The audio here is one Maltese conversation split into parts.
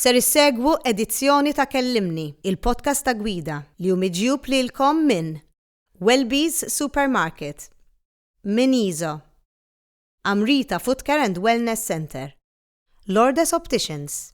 Ser issegwu edizzjoni ta' Kellimni, il-podcast ta' Gwida, li hu miġjub lilkom minn Welby's Supermarket, minn Iso, Amrita Footcare and Wellness Centre, Lourdes Opticians,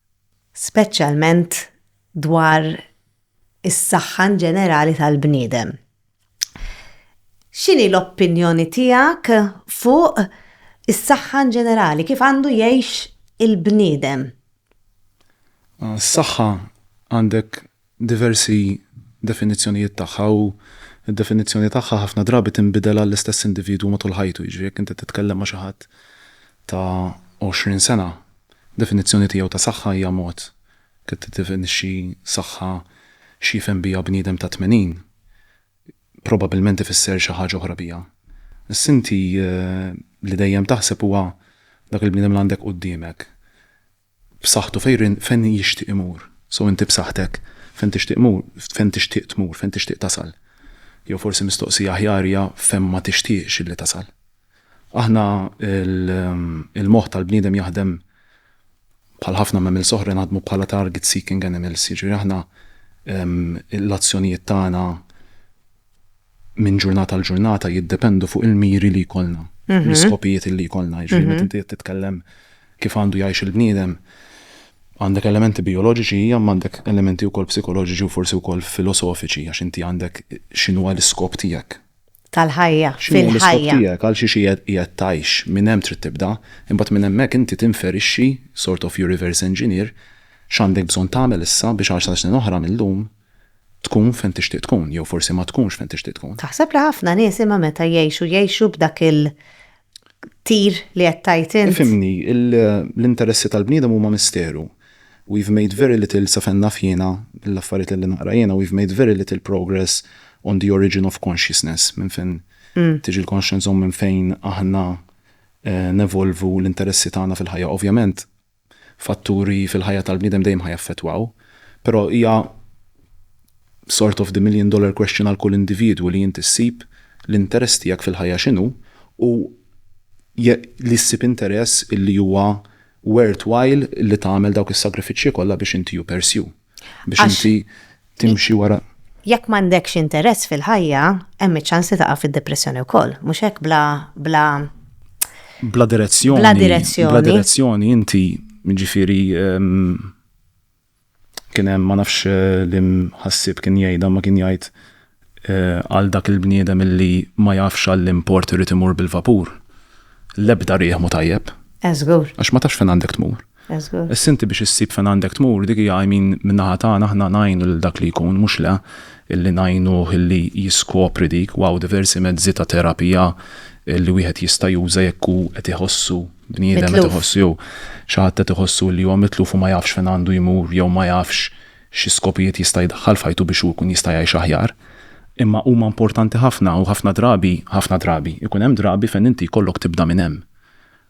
speċjalment dwar is-saħħa in ġenerali tal-bniedem. X'inhi l-opinjoni tiegħek fuq is-saħħa in ġenerali, kif għandu jgħix il-bniedem? Għas-saħħa għandek diversi definizzjonijiet tagħha u d-definizzjoni tagħha ħafna drabi tinbidel għall-istess individwu matul ħajtu, jiġri jekk inti titkellem ma' xi ħadd ta' għoxrin sena, definizzjoni tiegħu ta' saħħa hija mod, kif tiddefinixxi saħħa x'jifhem biha bniedem ta' tmenin, probabbilment ifisser xi ħaġa oħra biha. Issa inti li dejjem taħseb huwa dak il-bniedem li għandek quddiemek. b'saħħtu fejn fejn jixtieq imur. So inti b'saħħtek fejn tixtieq mur fejn tixtieq tmur, fejn tixtieq tasal. Jew forsi mistoqsija aħjar hija fejn ma tixtieqx illi tasal. Aħna l, il-moħħ tal-bniedem jaħdem bħal ħafna mammals oħra naħdmu bħala target seeking animals, jiġifieri aħna l-azzjonijiet tagħna minn ġurnata għal ġurnata jiddependu fuq il-miri li jkollna, l-iskopijiet li jkollna. Jiġifieri meta inti qed titkellem kif għandu jgħix il-bniedem, għandek elementi bijoloġiċi hija imma għandek elementi wkoll psikoloġiċi u forsi wkoll filosofiċi għax inti għandek x'inhuwa l-iskop tiegħek. Tal-ħajja, fil-ħajja. X'inhu l-iskop tiegħek, għal xiex qiegħed tgħix, minn hemm trid tibda, imbagħad minn hemmhekk inti tinferixxi, sort of you reverse engineer, x'għandek bżonn tagħmel issa biex għal xar snin oħra minn llum Tkun fejn tixtieq tkun jew forsi ma tkunx fejn tixtieq tkun. Taħseb li ħafna nies imma meta jgħixu jgħixu b'dak il tir li qed tgħid int? Ifhimni, l-interessi tal-bniedem huma misteru. We've made very little sa fejn naf jiena, mill-affarijiet lilli naqra jiena, we've made very little progress on the origin of consciousness, minn fejn tiġi l-conscience u minn fejn aħna nevolvu l-interessi tagħna fil-ħajja. Ovvjament, fatturi fil-ħajja tal-bniedem dejjem ħa jaffettwaw, però hija sort of the million dollar question għal kull individwu li inti ssib l-interess tiegħek fil-ħajja x'inhu u li ssib interess illi huwa worthwhile li tagħmel dawk is-sagrifiċċji kollha biex inti you pursue. biex inti timxi wara. Jekk m'għandekx interess fil-ħajja, hemm iċ-ċans li taqa' fid-depressjoni wkoll, mhux hekk bla bla bla direzzjoni. Bla direzzjoni. Bla direzzjoni inti ġifieri kien hemm ma nafx li mħassib kien jgħidha ma kien jgħid Għal dak il-bniedem illi ma jafx għalliem port irid imur bil-vapur, l-ebda riħ mhu tajjeb. Eh żgur. Għax ma tafx fejn għandek tmur. Eh żgur. Issa inti biex issib fejn għandek tmur, dik hija I mean min-naħa tagħna aħna ngħinu lil dak li jkun, mhux le, illi ngħinuh illi jiskopri dik, wow diversi mezzi ta' terapija illi wieħed jista' juża jekk hu qed iħossu bniedem qed iħossu jew xi ħadd qed iħossu li huwa mitluf u ma jafx fejn għandu jmur jew ma jafx xi skopijiet jista' jdaħħal f'ħajtu biex hu jkun jista' jgħix aħjar, imma huma importanti ħafna u ħafna drabi, ħafna drabi, ikun hemm drabi fejn inti jkollok tibda minn hemm.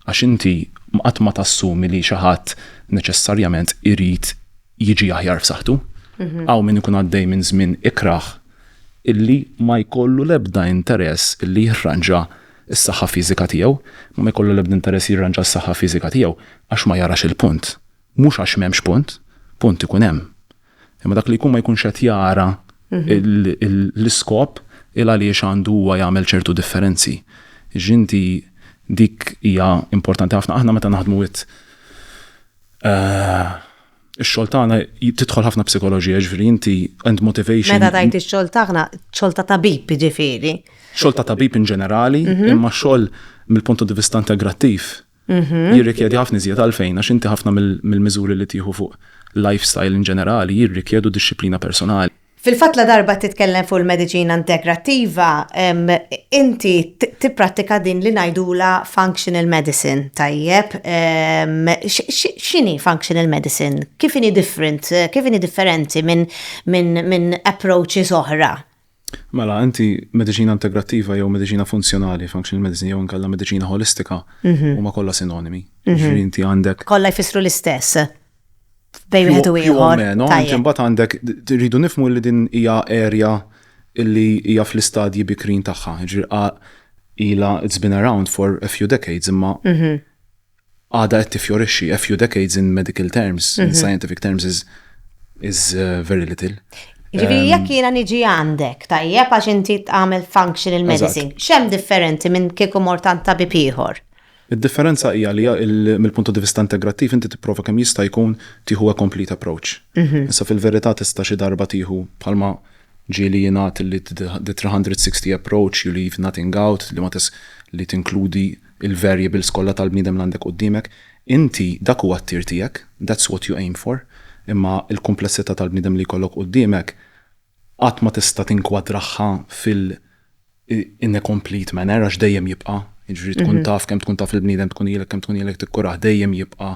Għax inti qatt ma tassumi li xi ħadd neċessarjament irid jiġi aħjar f'saħħtu. Hawn min ikun għaddej minn żmien ikrah illi ma jkollu l-ebda interess illi jirranġa s-saħħa fiżika tiegħu, ma jkollu l-ebda interess jirranġa s-saħħa fiżika tiegħu għax ma jarax il-punt. Mhux għax m'hemmx punt, punt ikun hemm. Imma dak li jkun ma jkunx qed jara l-iskop il għaliex għandu huwa jagħmel ċertu differenzi. Jiġifieri inti dik hija importanti ħafna. Aħna meta naħdmu with ix-xogħol tagħna tidħol ħafna psikoloġija, jiġifieri inti and motivation. Meta tgħid ix-xogħol tagħna, xogħol ta' tabib jiġifieri. Xogħol ta' tabib in ġenerali, imma xogħol mill-punt di vista integrattiv Mhm. jirrikjedi ħafna iżjed għalfejn għax inti ħafna mill-miżuri li tieħu fuq lifestyle in ġenerali jirrikjedu dixxiplina personali. Fil-fatt ladarba titkellem fuq il-mediċina integrattiva, inti tipprattika din li ngħidula functional medicine, tajjeb. X'inhi functional medicine? Kif inhi different, kif inhi differenti minn approaches oħra? Mela, inti mediċina integrattiva jew mediċina funzjonali, functional medicine, jew inkella mediċina ħolistika huma kollha sinonimi. Jiġifieri inti għandek. Kollha jfissru l-istess bejn wieħed u ieħor. Più o meno, inti mbagħad għandek rridu nifhmu li din hija area li hija fl-istadji bikrin tagħha. Jiġifieri ilha it's been around for a few decades imma għadha qed tiffjorixxi. A few decades in medical terms, in mhm. scientific terms is, is uh, very little. Ġifieri ehm, jekk jiena niġi għandek, tajjeb għax inti tagħmel functional medicine, xem differenti minn kieku mortant ta' tabib ieħor? Id-differenza hija li mill-punto di vista integrattiv inti tipprova kemm jista' jkun tieħu a complete approach. Mhm. Issa fil-verità tista' xi darba tieħu bħalma ġieli jingħad li the 360 approach you leave nothing out li ma li tinkludi il-variables kollha tal-bniedem li għandek quddiemek. Inti dak huwa t-tir tiegħek, that's what you aim for, imma l-kumplessità tal-bniedem li jkollok quddiemek qatt ma tista' tinkwadraħħa fil in a complete manner għax dejjem jibqa', jiġifieri tkun taf kemm tkun taf il-bniedem tkun ilek kemm tkun ilek tikkurah dejjem jibqa'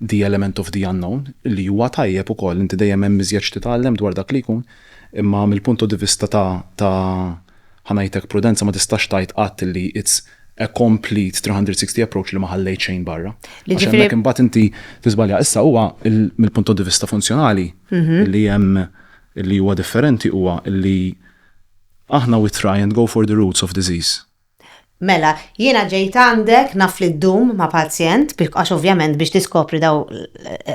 The Element of the Unknown, li huwa tajjeb ukoll, inti dejjem hemm iżjed x'titgħallem dwar dak li jkun, imma mill-punto di vista ta' ta' ħa ngħidlek prudenza ma tistax tgħid qatt li it's a complete 360 approach li ma ħallejt xejn barra. Li Għax ġifieri hemmhekk imbagħad inti tiżbalja. Issa huwa l mill-punto di vista funzjonali li hemm li huwa differenti huwa li aħna we try and go for the roots of disease. Mela, jiena ġejt għandek, naf li ddum ma' pazjent, għax ovvjament biex tiskopri dawn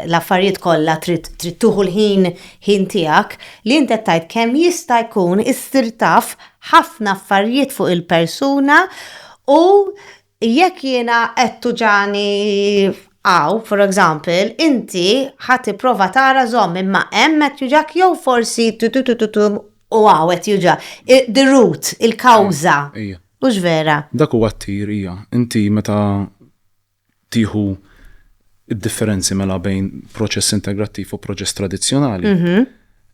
l-affarijiet kollha trid tieħu l-ħin ħin tiegħek, li int qed tgħid kemm jista' jkun issir taf ħafna affarijiet fuq il-persuna u jekk jiena qed tuġagħni hawn, for example, inti ħa tipprova tara żomm imma hemm qed juġgħak jew forsi tu-tu-tu-tu-tum. u għawet juġa. The root, il-kawza. Ija. Mux vera. Dak huwa t-tir, ija. Inti meta tieħu id-differenzi mela bejn proċess integrattiv u proċess tradizzjonali. Mhm.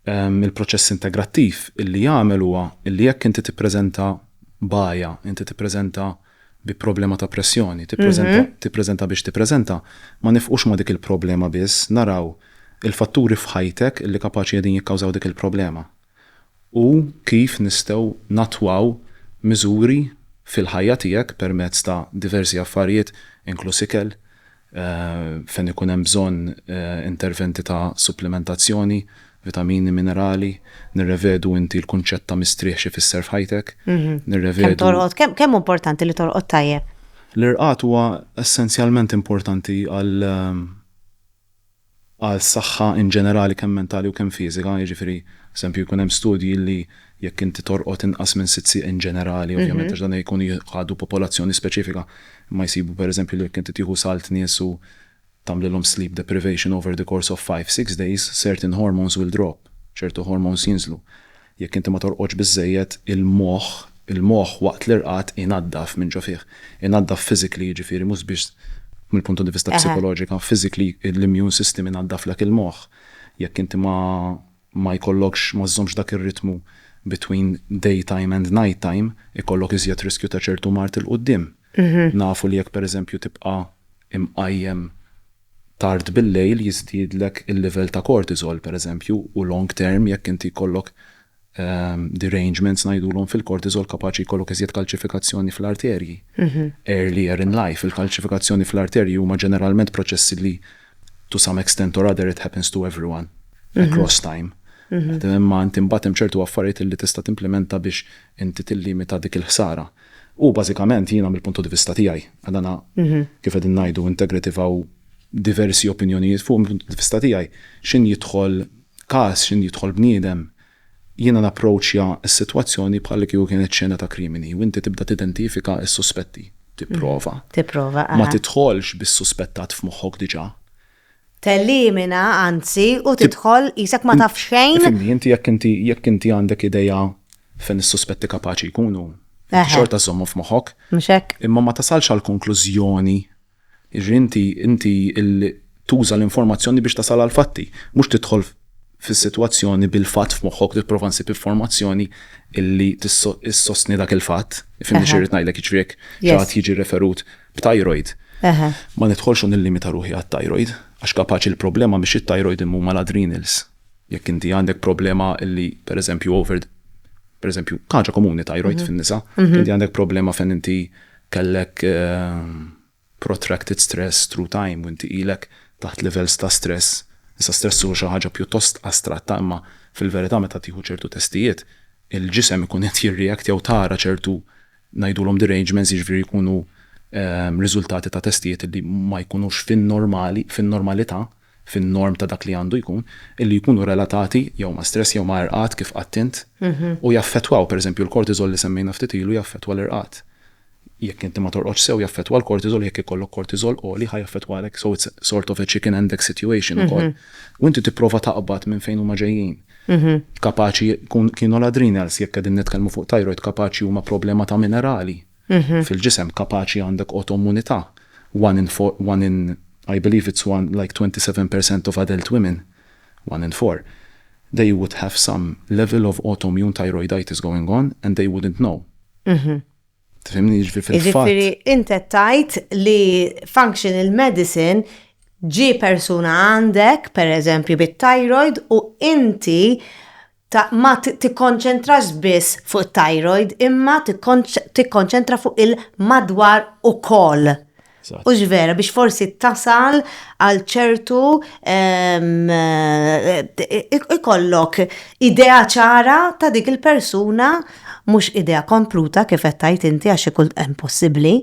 Ehm, il-proċess integrattiv illi jagħmel huwa illi jekk inti tippreżenta baja, inti tippreżenta bi problema ta' pressjoni, tippreżenta, tippreżenta biex tippreżenta, ma nifqux ma' dik il-problema biss, naraw il-fatturi f'ħajtek li kapaċi qegħdin jikkawżaw dik il-problema u kif nistgħu nattwaw miżuri fil-ħajja tiegħek permezz ta' diversi affarijiet inkluż ikel, fejn ikun hemm bżonn interventi ta' supplimentazzjoni, vitamini, minerali, nirrevedu inti l-kunċett ta' mistrieħ x'ifisser f'ħajtek, nirrevedu. Kemm hu importanti li torqod tajjeb? L-irqad huwa essenzjalment importanti għal għas-saħħa in ġenerali kemm mentali u kemm fiżika, jiġifieri, eżempju, jkun hemm studji li jekk inti torqod inqas minn sitt siegħ in ġenerali, ovvjament għax dan jkun jħadu popolazzjoni speċifika, imma jsibu pereżempju li jekk inti tieħu salt nies u tagħmlilhom sleep deprivation over the course of five, six days, certain hormones will drop, ċertu hormones jinżlu. Jekk inti ma torqodx biżżejjed, il-moħħ, il-moħħ waqt l-irqad inaddaf minn ġo fih. Inaddaf physically jiġifieri mhux biss mill-punt di vista psikoloġika, physically l-immune system inaddaflek il-moħħ. Jekk inti ma ma jkollokx, ma żżommx dak ir-ritmu between day time and night time, ikollok iżjed riskju ta' ċertu mard 'il quddiem. Nafu li jekk pereżempju tibqa' imqajjem, tard bil-lejl jiżdiedlek il-livell ta' cortisol pereżempju u long term jekk inti jkollok derangements ngħidulhom fil-cortisol kapaċi jkollok iżjed kalċifikazzjoni fl-arterji earlier in life. Il-kalċifikazzjoni fl-arterji huma ġeneralment proċessi li to some extent or other it happens to everyone across time. Imma inti mbagħad hemm ċertu affarijiet li tista' timplimenta biex inti tillimita dik il-ħsara. U bażikament jiena mill-punto di vista tiegħi, għal dana kif qegħdin ngħidu integrative hawn diversi opinjonijiet fuq, mill-punto di vista tiegħi x'in jidħol każ, x'in jidħol bniedem, jiena napproċċja s-sitwazzjoni bħal li kieku kienet xena ta' krimini u inti tibda tidentifika s-suspetti, tipprova, ma tidħolx bis-suspettat f'moħħok diġà, Telimina, anzi, u tidħol qisek ma taf xejn. Ifhimni, inti jekk inti jekk inti għandek idea fejn is-suspetti kapaċi jkunu, inti xorta żżommhom f'moħħok. Mhux hekk? Imma ma tasalx għall-konklużjoni, jiġri inti inti tuża l-informazzjoni biex tasal għall-fatti, mhux tidħol fis-sitwazzjoni bil-fatt f'moħħok u tipprova ssib informazzjoni li ssostni dak il-fatt. Ifhimni xi rrid ngħidlek, jiġri jekk xi ħadd jiġi referut b'tajrojd. Ma nidħolx u nillimita ruħi għat-tajrojd, għax kapaċi l-problema mhix it-tajrojd imma huma l-adrenals. Jekk inti għandek problema li, per eżempju, over, per eżempju, ħaġa komuni tajrojd fin-nisa, inti għandek problema fejn inti kellek protracted stress through time u inti ilek taħt levels ta' stress. Issa stress hu xi ħaġa pjuttost astratta imma fil-verità meta tieħu ċertu testijiet, il-ġisem ikun qed jirreact jew tara ċertu ngħidulhom derangements jiġifieri jkunu riżultati ta' testijiet li ma jkunux fin-normali, fin-normalità, fin-norm ta' dak li għandu jkun, li jkunu relatati jew ma' stress jew ma' irqad kif qatt int, u jaffettwaw, pereżempju l-cortisol li semmejna ftit ilu jaffettwa l-irqad. Jekk inti ma torqodx sew jaffettwa l-cortisol u jekk ikollok cortisol għoli ħa jaffettwalek, so it's sort of a chicken and egg situation ukoll. U inti tipprova taqbad minn fejn huma ġejjin. Mhm. Kapaċi jkun kienu l-adrenals jekk qegħdin nitkellmu fuq thyroid kapaċi huma problema ta' minerali Mhm. fil-ġisem, kapaċi għandek autoimmunità. One in four, one in, I believe it's one, like 27 per cent of adult women, one in four, they would have some level of autoimmune thyroiditis going on and they wouldn't know. Mhm. Tifhimni jiġifieri fil-fatt. Jiġifieri int qed tgħid li functional medicine ġie persuna għandek, pereżempju bit-thyroid, u inti ma tikkonċentrax biss fuq it-thyroid imma tikkonċentra fuq il-madwar ukoll. Hux vera biex forsi tasal għal ċertu ehm, ikollok idea ċara ta' dik il-persuna mhux idea kompluta kif qed tajt inti għax ikun hemm possibbli.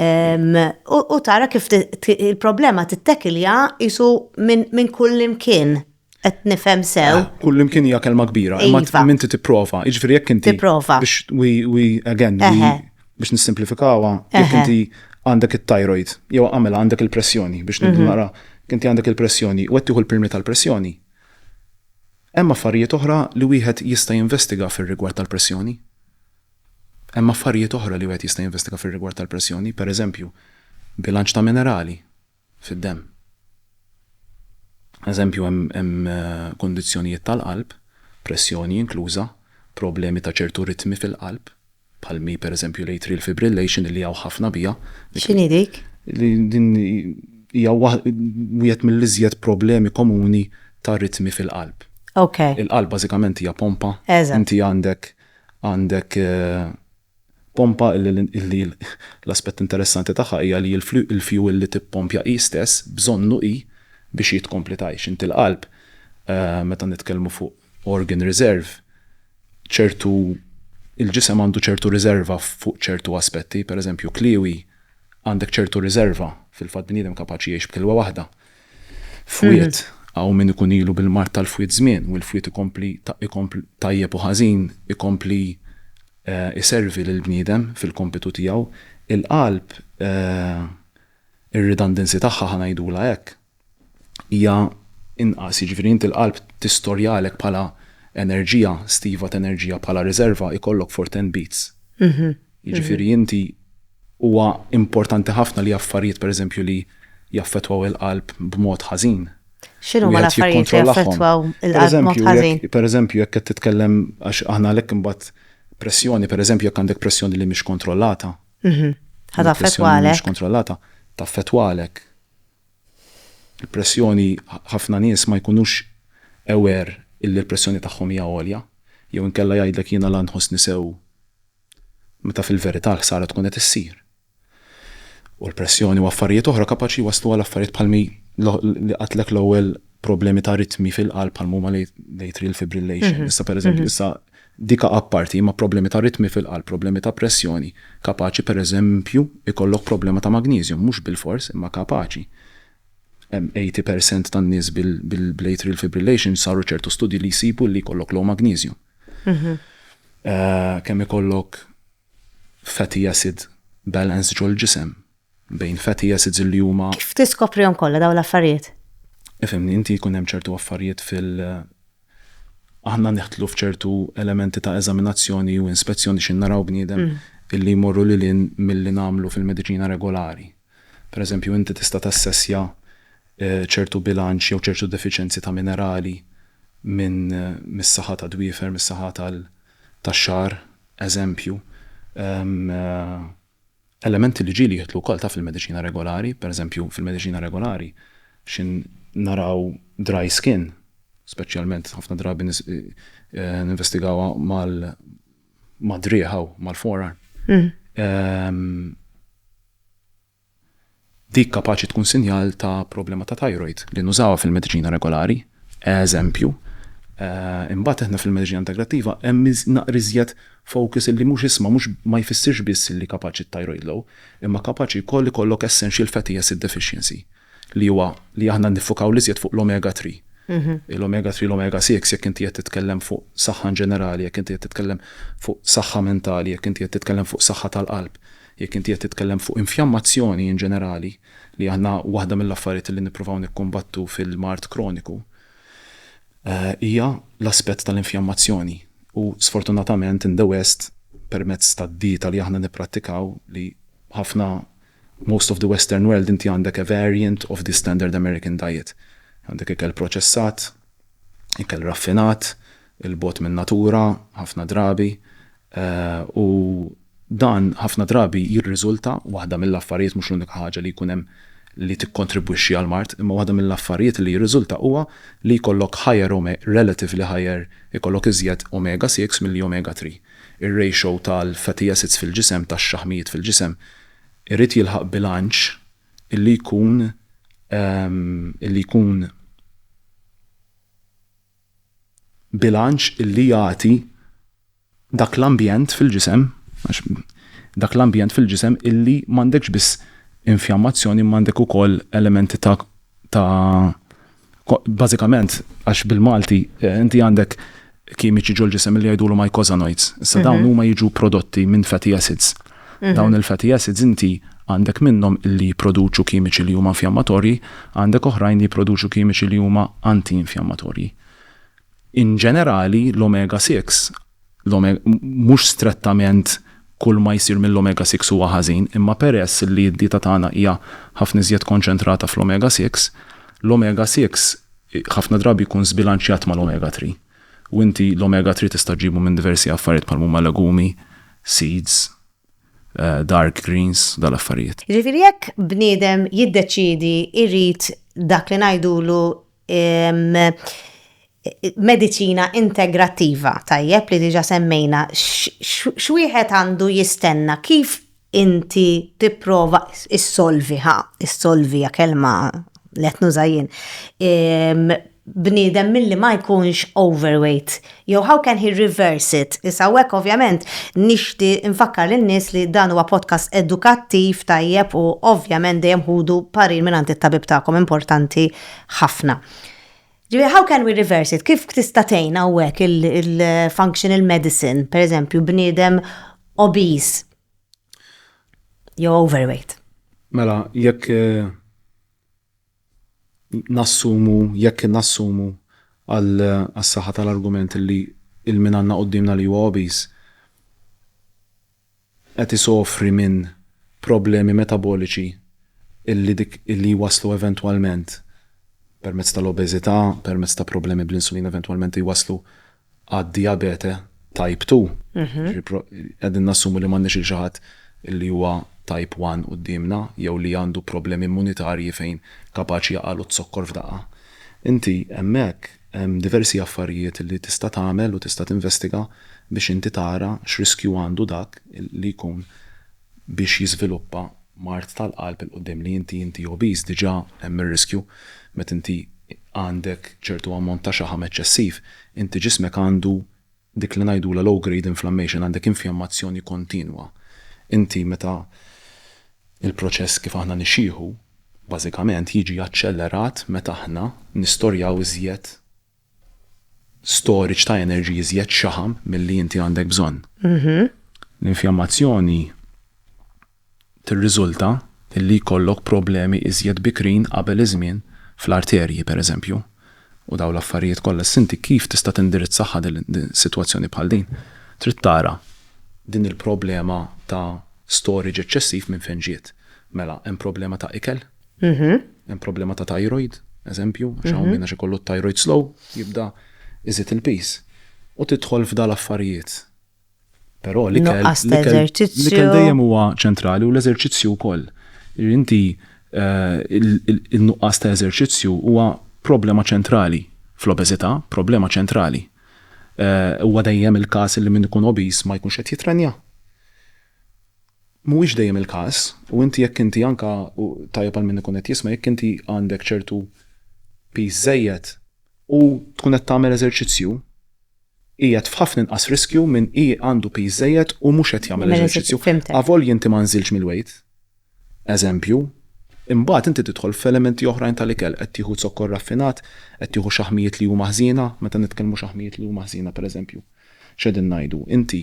Ehm, u tara kif il-problema tittekilja isu minn kull imkien. Qed nifhem sew. Eh, kull imkien hija kelma kbira, imma iva. minti tipprova, jiġifieri jekk inti. Tipprova. Biex we again, biex nissimplifikawha, jekk inti għandek it-thyroid, jew għamela għandek il-pressjoni biex mhm. nara inti għandek il-pressjoni u qed tieħu l-pirmi tal-pressjoni. Hemm affarijiet oħra li wieħed jista' jinvestiga fir-rigward tal-pressjoni. Hemm affarijiet oħra li wieħed jista' jinvestiga fir-rigward tal-pressjoni, pereżempju, bilanċ ta' minerali, fid-demm. Eżempju, hemm kundizzjonijiet tal-qalb, pressjoni inkluża, problemi ta' ċertu ritmi fil-qalb, bħal mi pereżempju l-atrial fibrillation illi hawn ħafna biha. X'inhi dik? Din hija wieħed mill-iżjed problemi komuni ta' ritmi fil-qalb. Il-qalb bażikament hija pompa. Inti għandek Pompa li l-aspett interessanti tagħha hija li l-fjuwil li tippompja hi stess bżonnu hi biex hi tkompli tgħix. Inti l-qalb, meta nitkellmu fuq organ reserve, ċertu, il-ġisem għandu ċertu riżerva fuq ċertu aspetti, pereżempju kliewi għandek ċertu riżerva, fil-fatt bniedem kapaċi jgħix b'kilwa waħda. Fwied, hawn min ikun ilu bil-mard tal-fwied żmien u l-fwied ikompli, tajjeb u ħażin, ikompli iservi lill-bniedem fil-kompitu tiegħu, il-qalb, ir-redundancy tagħha ħa ngħidulha hekk, hija inqas, jiġifieri inti l-qalb tistorjalek bħala enerġija, stiva t'enerġija bħala riżerva, ikollok for ten beats. Jiġifieri inti huwa importanti ħafna li affarijiet pereżempju li jaffettwaw il-qalb b'mod ħażin, Xinu ma l-affarijiet li jaffettwaw il-qalb Per eżempju, jekk qed titkellem għax aħna għalhekk imbagħad pressjoni, per eżempju, jekk għandek pressjoni li mhix kontrollata. Mhm. Ħad affettwalek. Mhix kontrollata, taffettwalek. Il-pressjoni ħafna nies ma jkunux aware illi l-pressjoni tagħhom hija għolja, jew inkella jgħidlek jiena la nħossni sew meta fil-verità l-ħsara tkun qed issir. u l-pressjoni u affarijiet oħra kapaċi jwasslu għal affarijiet bħal mi li qatlek l-ewwel problemi ta' ritmi fil-qalb bħal huma l-atrial fibrillation. Mhm. Issa pereżempju mhm. issa dika apparti ma' problemi ta' ritmi fil-qalb, problemi ta' pressjoni, kapaċi pereżempju ikollok problema ta' magnesium, mhux bil-fors imma kapaċi. 80% tan-nies bil-atrial fibrillation saru ċertu studji li jsibu li jkollok low magnesium. Mhm. Eh, kemm ikollok fatty acid balance ġol-ġisem bejn fatty acids li huma. Kif tiskoprihom kollha dawn l-affarijiet? Ifhimni, inti jkun hemm ċertu affarijiet fil aħna nidħlu f'ċertu elementi ta' eżaminazzjoni u inspezzjoni xi naraw bniedem illi jmorru lil hinn milli nagħmlu fil-mediċina regolari. Pereżempju inti tista' tassessja ċertu bilanċ jew ċertu defiċenzi ta' minerali minn mis-saħħa tad-dwiefer, mis-saħħa tal tax-xagħar, eżempju, elementi li ġieli jidħlu wkoll ta' fil-mediċina regolari, pereżempju fil-mediċina regolari xi naraw dry skin, speċjalment ħafna drabi ninvestigawha mad-driegħa u mal-forearm. Dik kapaċi tkun sinjal ta' problema ta' thyroid li nużawha fil-mediċina regolari, eżempju. Imbagħad aħna fil-mediċina integrattiva hemm naqra iżjed focus illi mhux isma' mhux ma jfissirx biss illi kapaċi t-thyroid low, imma kapaċi wkoll ikollok essential fatty acid deficiency. li huwa li aħna niffukaw l-iżjed fuq l-omega 3. Il-omega 3, l-omega 6, jekk inti qed titkellem fuq saħħa in ġenerali, jekk inti qed titkellem fuq saħħa mentali, jekk inti qed titkellem fuq saħħa tal-qalb, jekk inti qed titkellem fuq infjammazzjoni in ġenerali, li aħna waħda mill-affarijiet li nippruvaw nikkumbattu fil-mard kroniku hija l-aspett tal-infjammazzjoni. U sfortunatament in the west permezz tad-dieta li aħna nipprattikaw li ħafna Most of the western world inti għandek a variant of the standard American diet. Għandek ikel proċessat, ikel raffinat, il-bogħod min-natura ħafna drabi u dan ħafna drabi jirriżulta, waħda mill-affarijiet, mhux l-unika ħaġa li jkun hemm li tikkontribwixxi għall-mard, imma waħda mill-affarijiet li jirriżulta huwa li jkollok higher relatively higher ikollok iżjed omega 6 milli omega 3. Ir-ratio tal-fatty acids fil-ġisem, tax-xaħmijiet fil-ġisem, irid jilħaq bilanċ illi jkun illi jkun bilanċ illi jagħti dak l-ambjent fil-ġisem għax dak l-ambjent fil-ġisem illi m'għandekx biss infjammazzjoni imma għandek ukoll elementi ta' ta' Bażikament għax bil-Malti eh, inti għandek kimiċi ġol ġisem li jgħidulu mycosanoids. Issa dawn mhm. huma jiġu prodotti minn fatty acids. Mhm. Dawn il-fatty acids inti għandek minnhom li jipproduċu kimiċi li huma infjammatorji, għandek oħrajn li jipproduċu kimiċi li huma anti-infjammatorji. In ġenerali, l-omega 6 Mhux strettament kull ma jsir mill-omega six huwa ħażin, imma peress li d-dieta tagħna hija ħafna iżjed konċentrata fl-omega six, l-omega six ħafna drabi jkun żbilanċjat mal-omega three. U inti l-omega three tista' ġġibu minn diversi affarijiet bħal huma legumi, seeds, dark greens, dawn l-affarijiet. Jiġifieri jekk bniedem jiddeċiedi jrid dak li ngħidulu mediċina integrattiva tajjeb li diġa semmejna x'wieħed għandu jistenna kif inti tipprova issolviha, issolvi ja kelma let nużajin. Bniedem milli ma jkunx overweight, jew how can he reverse it? Issa hekk ovvjament nixti nfakkar lin-nies li dan huwa podcast edukattiv tajjeb u ovvjament dejjem ħudu parir mingħand it-tabib tagħkom importanti ħafna. Ġifieri how can we reverse it? Kif tista' tgħin hawnhekk il-functional medicine, pereżempju bniedem obese jew overweight? Mela, jekk eh, nassumu, jekk nassumu għal-saħħa tal-argument li il-min għandna qoddimna li huwa obese, qed isofri minn problemi metaboliċi illi dik illi jwasslu eventwalment permezz tal-obeżità, permezz ta' problemi bl-insulina eventwalment jwasslu għad-dijabete type two. Jiġifieri qegħdin nassumu li m'għandniex lil xi ħadd illi huwa type one quddiemna jew li għandu problemi immunitarji fejn kapaċi jaqgħalu z-zokkor f'daqqa. Inti hemmhekk Hemm diversi affarijiet li tista' tagħmel u tista' tinvestiga biex inti tara x'riskju għandu dak li jkun biex jiżviluppa mard tal-qalb 'il quddiem li inti inti obese diġà hemm ir-riskju meta inti għandek ċertu ammont ta' xaħam eċċessiv inti ġismek għandu Dik li ngħidulha low grade inflammation għandek infjammazzjoni kontinwa. Inti meta il-proċess kif aħna nixjieħu bażikament jiġi aċċellerat meta aħna nistorjaw iżjed storage ta' energy, iżjed xaħam milli inti għandek bżonn. L-infjammazzjoni. tirriżulta li jkollok problemi iżjed bikrin qabel iż-żmien fl-arterji, pereżempju, u dawn l-affarijiet kollha. Issa inti kif tista' tindirizzahha din is-sitwazzjoni bħal din? Trid tara din il-problema ta' storage eċċessiv minn fejn ġiet. Mela, hemm problema ta' ikel, hemm problema ta' thyroid, eżempju, għax hawn min għax ikollu t-thyroid slow jibda jżid il-piż. U tidħol f'dawn l-affarijiet. Però li kell dejjem huwa ċentrali u l-eżerċizzju wkoll. Inti eh, il-nuqqas ta' eżerċizzju huwa problema ċentrali fl-obeżità, problema ċentrali. Eh, huwa dejjem il-każ li min ikun obis ma jkunx qed jitrenja. Mhuwiex dejjem il-każ u inti jekk inti anka tajjeb għal min ikun qed jisma' jekk inti għandek ċertu piż żejjed u tkun qed tagħmel eżerċizzju qiegħed f'ħafna inqas riskju minn hi għandu piż żejjed u mhux qed jagħmel eżerċizzju. Avolja inti ma nżiltx mill-wejt, eżempju, imbagħad inti tidħol f'elementi oħrajn tal-ikel, qed tieħu zokkor raffinat, qed tieħu xaħmijiet li huma ħżiena, meta nitkellmu xaħmijiet li huma ħżiena pereżempju x'qegħdin ngħidu? Inti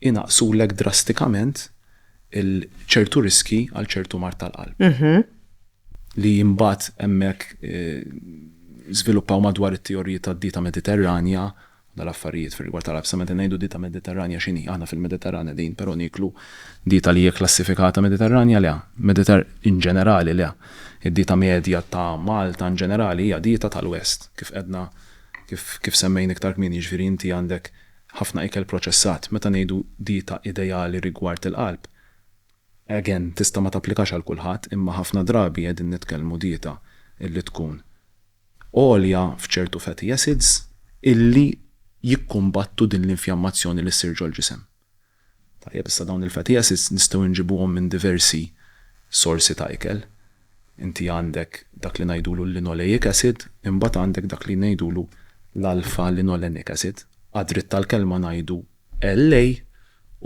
inaqqsulek drastikament ċertu riskji għal ċertu mard tal-qalb. Li mbagħad hemmhekk żviluppaw madwar it-teoriji tad-dieta Mediterranja u dal-affarijiet fir-rigward tal-qalb. Sa meta ngħidu dieta Mediterranja x'inhi? Aħna fil-Mediterran qegħdin però nieklu dieta li hija kklassifikata Mediterranja? Le. Mediter in ġenerali le. Id-dieta medja ta' Malta in ġenerali hija dieta tal-West kif qegħdna kif kif semmejn iktar kmieni jiġifieri inti għandek ħafna ikel proċessat, meta ngħidu dieta ideali rigward il-qalb, again, tista' ma tapplikax għal kulħadd, imma ħafna drabi qegħdin nitkellmu dieta illi tkun għolja f'ċertu fatty acids illi jikkumbattu din l-infjammazzjoni li ssir ġol-ġisem. Tajjeb, issa dawn il-fattijiet nistgħu nġibuhom minn diversi sorsi ta' ikel. Inti għandek dak li ngħidulu l-linoleic acid, imbagħad għandek dak li ngħidulu l-alpha linolenic acid, għad-dritt tal-kelma ngħidu LA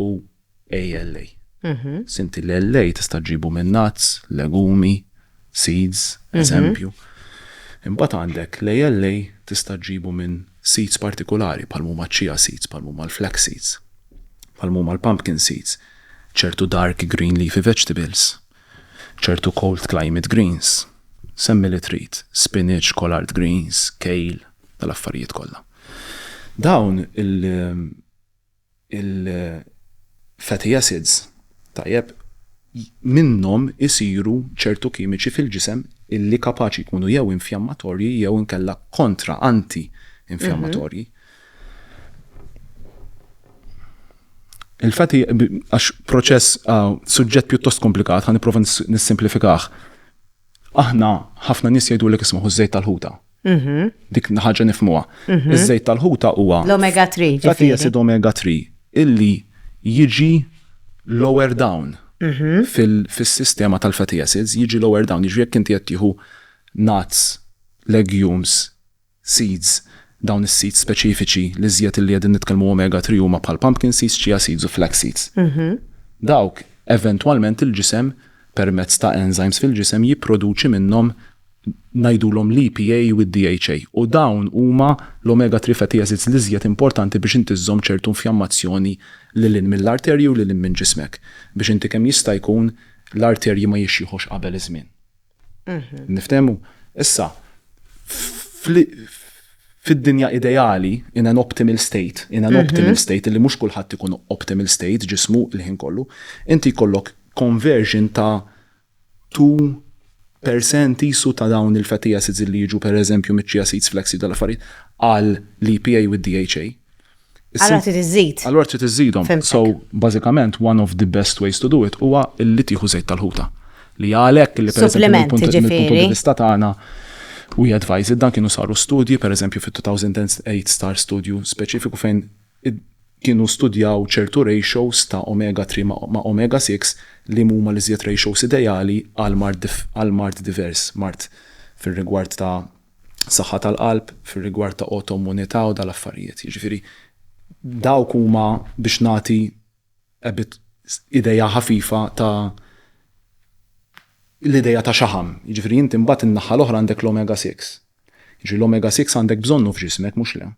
u ALA. Sinti l-LA tista' ġġibu minn nuts, legumi, seeds, eżempju. Imbagħad għandek l-ALA tista' ġġibu minn seeds partikulari bħal m'huma ċ-chia seeds, bħal m'huma l-flax seeds, bħal m'huma l-pumpkin seeds, ċertu dark green leafy vegetables, ċertu cold climate greens, semmi li trid, spinach, collard greens, kale, dal-affarijiet kollha. Dawn il- Il-fatty acids, tajjeb, minnhom isiru ċertu kimiċi fil-ġisem illi kapaċi jkunu jew infjammatorji jew inkella kontra, anti-infjammatorji. Il-fatty, għax proċess, suġġett pjuttost komplikat, ħa nipprova nissimplifikah. Aħna, ħafna nies jgħidulek isma' ħu ż-żejt tal-ħuta, Mhm. Dik ħaġa nifmuha. Mhm. Iż-żejt tal-ħuta huwa. L-omega 3 ġifieri. Fatty acid omega 3 illi jiġi lower down Mhm. fil-sistema tal-fatty acids, jiġi lower down, jiġri jekk inti qed tieħu nuts, legumes, seeds, dawn is-seeds speċifiċi l-iżjed illi qegħdin nitkellmu omega 3 huma bħal pumpkin seeds, chia seeds u flax seeds. Mhm. Dawk eventwalment il-ġisem permezz ta' enzymes fil-ġisem jipproduċi minnhom ngħidulhom l-EPA u d-DHA, u dawn huma l-omega three fatty acids l-iżjed importanti biex inti żżomm ċertu infjammazzjoni lil hinn mill-arterji u lil hinn minn ġismek, biex inti kemm jista' jkun l-arterji ma jixjħux qabel iż-żmien. Niftehmu? Issa, fid-dinja ideali, in an optimal state, in an optimal state, li mhux kulħadd ikun optimal state ġismu l-ħin kollu, inti jkollok conversion ta' two per cent qisu ta' dawn il-fatty acids li jiġu per eżempju miċ-chia seeds, flax seeds, dal-affarijiet, għall-EPA u d-DHA. Allura trid iżżid. Allura trid iżżidhom. So, bażikament, one of the best ways to do it huwa li tieħu żejt tal-ħuta. Li għalhekk li per eżempju mill-punt di vista tagħna we advise it. Dan kienu saru studji, per eżempju, fit-2008 sar studju speċifiku fejn kienu studjaw ċertu ratios ta' omega 3 ma' omega 6 li huma l-iżjed ratios ideali għal mard għal mard divers, mard fir-rigward ta' saħħa tal-qalb, fir-rigward ta' autoimmunità u dal-affarijiet. Jiġifieri dawk huma biex nagħti a bit idea ħafifa ta' l-idea ta' xaħam. Jiġifieri inti mbagħad in-naħa l-oħra għandek l-omega 6. Jiġifieri l-omega 6 għandek bżonnu f'ġismek mhux le?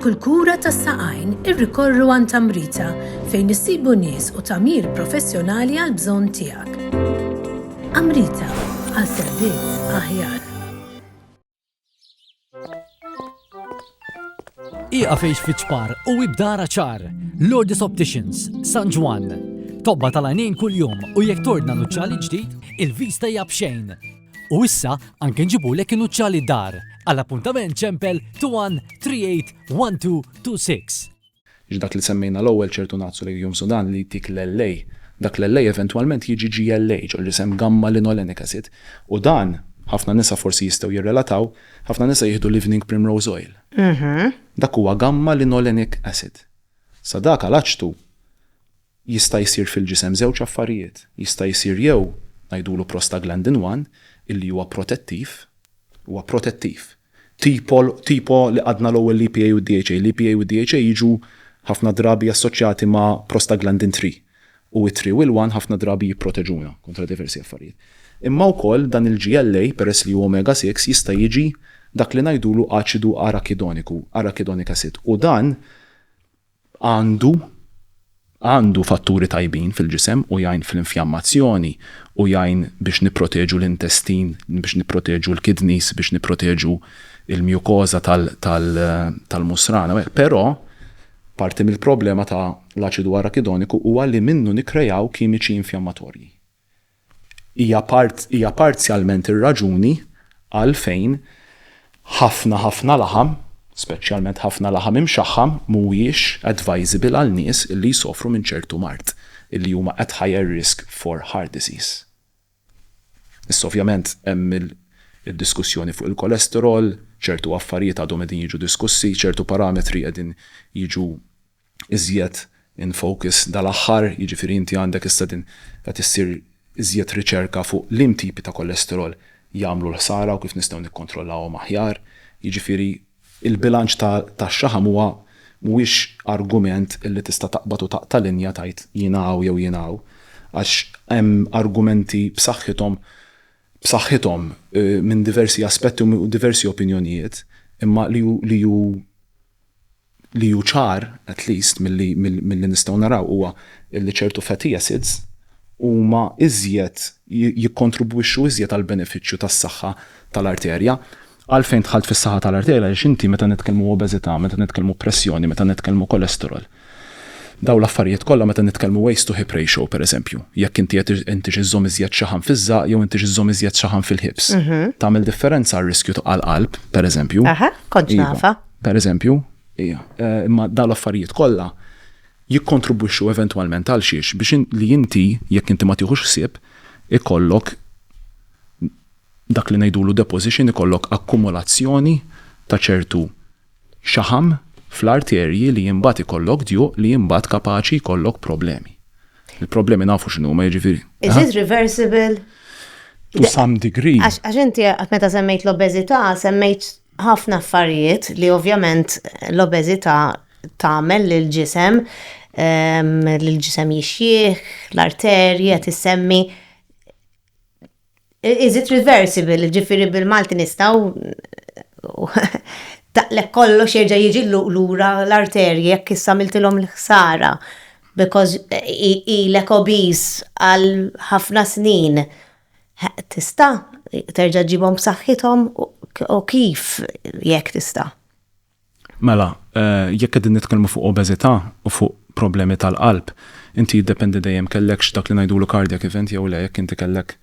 kulkura tas saqajn irrikorru għan tamrita fejn issibu nies u tamir professjonali għal bżonn tiegħek. Amrita għal servizz aħjar. Iqa fejx fiċpar u ibdara ċar. Lourdes Opticians, San Ġwan. Tobba tal-għajnejn kull-jum u jek tordna nuċċali ġdid, il-vista hija bxejn. U issa anke nġibu lek nuċċali dar. Għal-appuntament ċempel 21 38 26. Ġdak li semmejna l-ewwel ċertu Nazzu Legume Sudan li jtik l-LA. Dak l-LA eventwalment jiġi GLA, ġo l-isem gamma linolenic acid, u dan, ħafna nisa forsi jistgħu jirrelataw, ħafna nisa jieħdu l-evening primrose oil. Dak huwa gamma linolenic acid. Sa dak għal aċtu. Jista' jsir fil-ġisem żewġ affarijiet, jista' jsir jew ngħidulu prostaglandin one illi huwa protettiv, huwa protettiv, tipo tipo li qgħadna l-ewwel l-EPA u d-DHA, l-EPA u d-DHA jiġu ħafna drabi assoċjati ma' prostaglandin three, u it-three u l-one ħafna drabi jipproteġuna kontra diversi affarijiet. Imma wkoll dan il-GLA peress li hu omega six jista' jiġi dak li ngħidulu aċidu arakidoniku, arachidonic acid, u dan, għandu għandu fatturi tajbin fil-ġisem u jgħin fl-infjammazzjoni u jgħin biex nipproteġu l-intestin, biex nipproteġu l-kidneys, biex nipproteġu l-mjukoża tal-musrana u hekk. Però parti mill-problema ta' l-aċidu arakidoniku huwa li minnu nikkrejaw kimiċi infjammatorji. hija parzjalment ir-raġuni għalfejn ħafna ħafna laħam, speċjalment ħafna laħam imxaħħam, mhuwiex advisable għal nies li jsofru minn ċertu mard, li huma at higher risk for heart disease. Issa ovvjament hemm id-diskussjoni fuq il-cholesterol, ċertu affarijiet għadhom qegħdin jiġu diskussi, ċertu parametri qegħdin jiġu iżjed in focus dal-aħħar, jiġifieri inti għandek issa din qed issir iżjed riċerka fuq liem tipi ta' kolesterol jagħmlu l-ħsara u kif nistgħu nikkontrollawhom aħjar. Jiġifieri l-bilanċ tax-xaħam huwa mhuwiex argument li tista' taqbad u taqta' linja tgħid jiena hawn jew jiena hawn għax hemm argumenti b'saħħithom b'saħħithom minn diversi aspetti u diversi opinjonijiet imma li hu li hu ċar, at least milli nistgħu naraw, huwa li ċertu fatty acids huma iżjed, jikkontribwixxu iżjed għall-benefiċċju tas-saħħa tal-arterja. Għalfejn dħalt fis-saħħa tal-arterja? Għaliex inti meta nitkellmu obeżità, meta nitkellmu pressjoni, meta nitkellmu cholesterol, dawn l-affarijiet kollha meta nitkellmu waist to hip ratio pereżempju, jekk inti qed intix iżżomm iżjed xaħam fiż-żaqq jew intix iżżomm iżjed xaħam fil-hips, tagħmel differenza għar-riskju għall-qalb pereżempju. Aha, kontx nafha. Per eżempju, hija, imma dawn l-affarijiet kollha jikkontribwixxu eventwalment għal xiex? Biex li inti, jekk inti ma tieħux ħsieb, ikollok dak li ngħidulu deposition, ikollok akkumulazzjoni ta' ċertu xaħam fl-arterji li imbagħad ikollok djuq li imbagħad kapaċi jkollok problemi. Il-problemi nafu x'inhuma jiġifieri. Is it reversible? To some degree. Għax inti meta semmejt l-obeżità, semmejt ħafna affarijiet li ovvjament l-obeżità tagħmel lill-ġisem, ehm, lill-ġisem jixjieħ, l-arterji qed issemmi. Is it reversible, ġifieri bil-Malti nistgħu taqlek kollox jerġa' jiġi lura l-arterji jekk issa miltilhom l-ħsara because ilek obese għal ħafna snin Tista' terġa' ġġibhom b'saħħithom u kif jekk tista'? Mela, jekk qegħdin nitkellmu fuq obeżità u fuq problemi tal-qalb, inti jiddependi dejjem kellekx dak li ngħidulu cardiac event jew le, jekk inti kellek